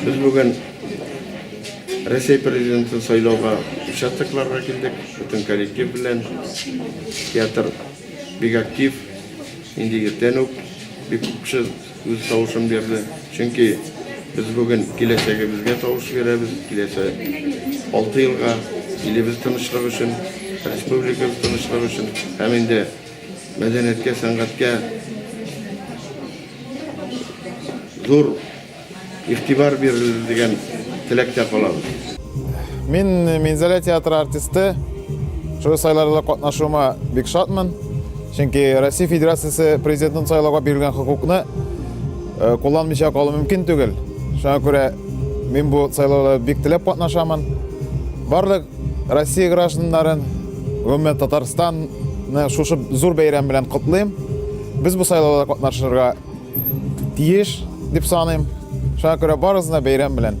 Без бүген Рәсәй президентын сайлауга участокларга килдек, бөтен коллектив белән. Театр бик актив, инде иртән үк бик күп кеше үз тавышын бирде. Чөнки без бүген киләчәгебезгә тавыш бирәбез, киләчә алты елга илебез тынычлык өчен, республикабыз тынычлык өчен һәм инде мәдәнияткә, сәнгатькә зур игътибар бирелер дигән теләктә калабыз. Мин Минзәлә театры артисты. Шул сайларда катнашуыма бик шатмын. Чөнки Россия Федерациясе президентын сайлауга бирелгән хокукны э, кулланмыйча калу мөмкин түгел. Шуңа күрә мин бу сайлауда бик теләп катнашамын. Барлык Россия гражданнарын, гомумән Татарстанны шушы зур бәйрәм белән котлыйм. Без бу сайлауда катнашырга тиеш дип саныйм. Шуңа күрә барыгызны бәйрәм белән.